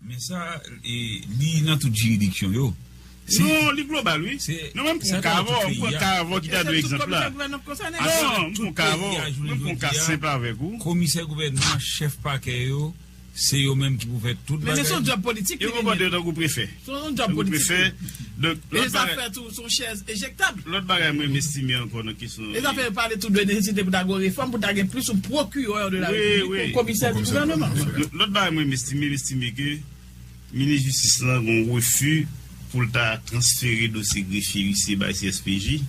Men sa, li nan tout jiridiksyon yo. Non, li global wi. Non menm pran ka avèw, m pran ka avèw ki ta dwe egzanp la. Non, m pran ka avèw, menm pran ka senp avèk ou. Komisè gouvènman, chèf pakè yo, se yo menm ki pou fè tout bagay. Yo konpòte yo tankou prefè. Tankou prefè, donk, lòt bagay, lòt bagay mwen mestime ankò nan kesyon. Wi, wi. Lòt bagay mwen mestime, mestime ke Minis Jistis lan gon refi pou l ta transfere dosye grefye, ice bay CSPJ,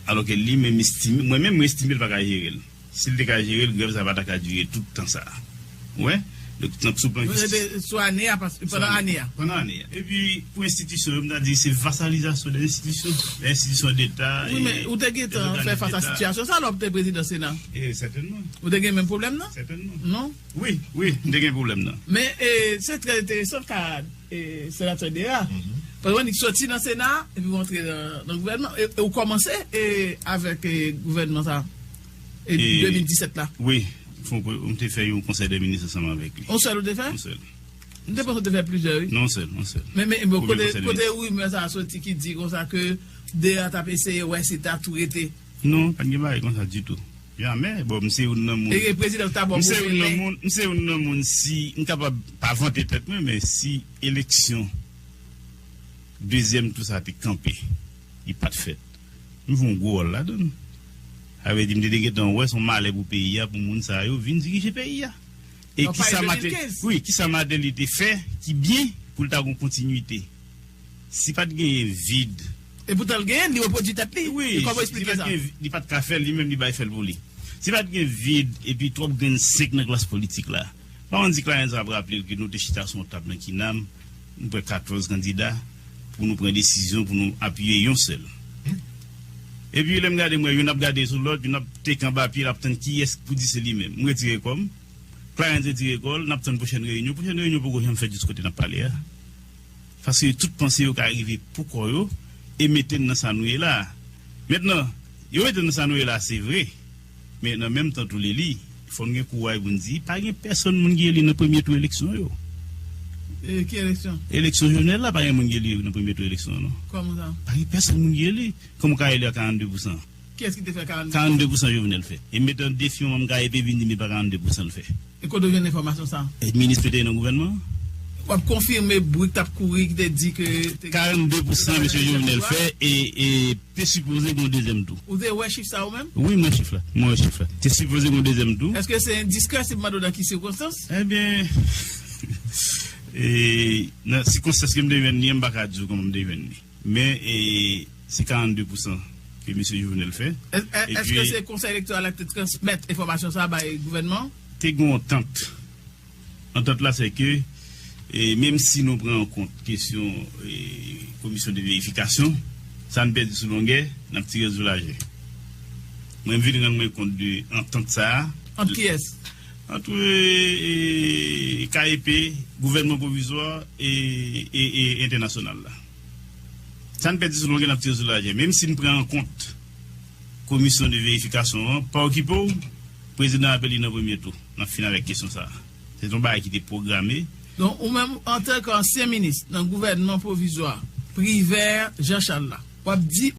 alò ke li menm estime, mwen menm mwen estime l pa ka jere l. Si l te ka jere l, grèv sa pa ta ka dire tout tan sa a. Ou wè? Donk, tank sou plan jistis. Mwen rete sou ane a, paske pandan ane a. Pandan ane a. Epi, pou enstitisyon yo, m ta di se vasalizasyon de enstitisyon, de enstitisyon deta. Wi, men, ou te gen tan fè fas a sitiyasyon sa a lè w te prezidan sena? E, sètènman. Ou te gen menm pwoblèm nan? Sètènman. Non? Wi, wi, m te gen pwoblèm nan. Men, se trè enteresan ka Senatè Dera. Paske annik soti nan sena a, epi w antre nan gouvènman, e ou kòmanse avèk gouvènman sa a. E 2017 la? Wi, m te fè yon konsèy dè minis ansanm avèk li. Yon sèl ou te fè? Yon sèl. M te panse ou te fè plizyè wi. Non, yon sèl, yon sèl. Men, men, bon, kote, kote rimè sa a soti ki di konsa ke 2 a t ap eseye wè si ta tou rete? Non, pa t gen bagay konsa ditou. Jamè! Bon, m se youn nan moun. E ke prezidan ou ta ba w gwo fè men? M se youn nan moun si m kapab pa vante tèt mwen, men si eleksyon dezyèm tou sa a te kanpe, li pa t fèt. M jwe yon gwo wòl ladan l. Sa vle di m te dwe gentan wè se yon malè pou peyi a pou moun sa yo vin dirije peyi a. E kisa Mateli, wi, kisa Mateli te fè ki byen pou l ta gon kontinwite? Si pa t genyen vid. E poutan l genyen l, li repwodui tèt li. Wi, si pa t genyen vid, li pa t ka fè l, li menm li bay fè l pou li. Si pa t gen vid epi twòp grenn 5 nan klas politik la. Manman n di Clarens ap raple l ke nou te chita sou yon tab nan Kinam, nou pran 14 kandida, pou nou pran desizyon pou nou apiye yon sèl. Epi lè m gade m wè youn ap gade sou lòt, youn ap teke anba pye l ap tann kiyès k pou di se li menm. M retire kò m, Clarens retire kò l, n ap tann pwochèn reyinyon. Pwochèn reyinyon poko janm fèt jis kote n ap pale a. Paske tout panse yo ka rive pou kò yo e mete n nan sa nou ye la a. Mentnan, yo mete n nan sa nou ye la a se vre. Men nan menm tan tou li li, fò n gen kouray pou n di, pa gen pèsonn moun ki eli nan premye tou eleksyon yo. Ki eleksyon? Eleksyon Jovenel la, pa gen moun ki eli nan premye tou eleksyon yo non. Kòman sa? Pa gen pèsonn moun ki eli. Kòman w ka eli a 42 pousan? Kiyès ki te fè 42 pousan? 42 pousan Jovenel fè. E m mete an defi yon manm KEP vin di m li pa 42 pousan l fè. E kote w jwenn enfòmasyon sa? Yon minis ki te ye nan gouvènman an. W ap konfime bri k t ap kouri ki te di ke te gen. 42 pou san Mesye Jovenel fè e te sipoze gen yon dezyèm tou. Ou te wè chif sa ou menm? Wi, m wè chif la. Mwen wè chif la. Te sipoze gen yon dezyèm tou. Eske se endiskrè si m mande w nan ki sikonstans? Ebyen, nan sikonstans ke m te jwenn li an, m pa ka di w kòman m te jwenn li. Men se 42 pousan ke Mesye Jovenel fè. Eske se Konsèy Elektoral la ki te transmèt enfòmasyon sa a bay gouvènman an? Te gen yon antant. Antant la se ke menm si nou pran an kont kesyon komisyon de verifikasyon, sa n pèdi sou longè, n ap tire l sou lajè. Mwen vin rann mwen kont de antant sa a. Ant kiyès? Antre KEP, Gouvènman Pwovizwa, e entènasyonal la. Sa n pèdi sou longe n ap tire sou laje. Menm si n pran an kont komisyon de verifikasyon an, pa okipe w, prezidan ap eli nan premye tou. N ap fini avèk kesyon sa a. Se te yon bagay ki te pwograme. Donk ou menm antanke ansyen minis nan Gouvènman Pwovizwa, Privert Jean Charles la, w ap di